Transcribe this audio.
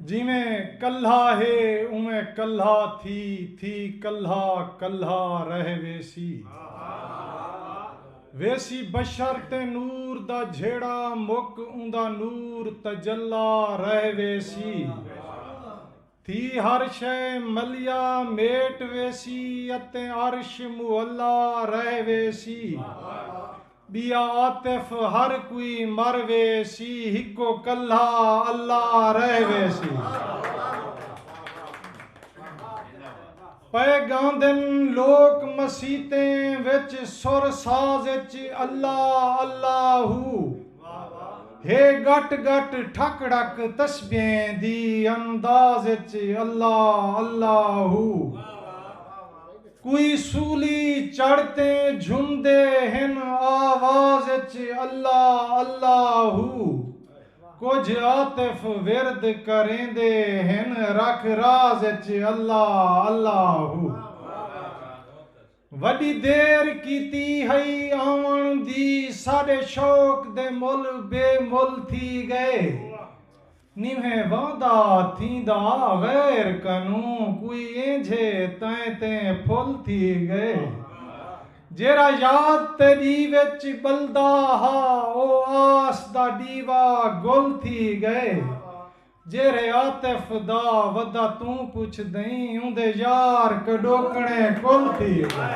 جیویں کلھا ہے اونویں کلھا تھی تھی کلھا کلھا رہ ویسی ویسی بشر تے نور دا جھیڑا مک اوندا نور تجلی رہ ویسی تھی ہر شئے ملیا میٹ ویسی اتے عرش معلا رہ ویسی بیا عاطف ہر کوئی مر ویسی ہکو کلھا اللہ رہ ویسی پئے ڳاندن لوک مسیتیں وچ سر ساز اچ اللہ اللہ ہو ہے ڳٹ ڳٹ ٹھک ٹھک تسبیحیں دی انداز اچ اللہ اللہ ہو کوئی سولی چڑھ تے جھمدے ہن آواز اچ اللہ اللہ ہو کجھ عاطف ورد کریندے ہن رکھ راز اچ اللہ اللہ ہو وڈی دیر کیتی ہئی آون دی ساڈے شوق دے مل بے مل تھی گئے نیوہیں واندا تھیندا غیر کنوں کوئی اینجھے تیں تیں پھل تھی گئے جیرھا یاد تے ݙیوے اچ ٻلدا ہا او آس دا ݙیوا گل تھی ڳئے جیرھے عاطف دا ودا توں پچھدئیں اوندے یار کݙوکݨے کل تھی ڳئے۔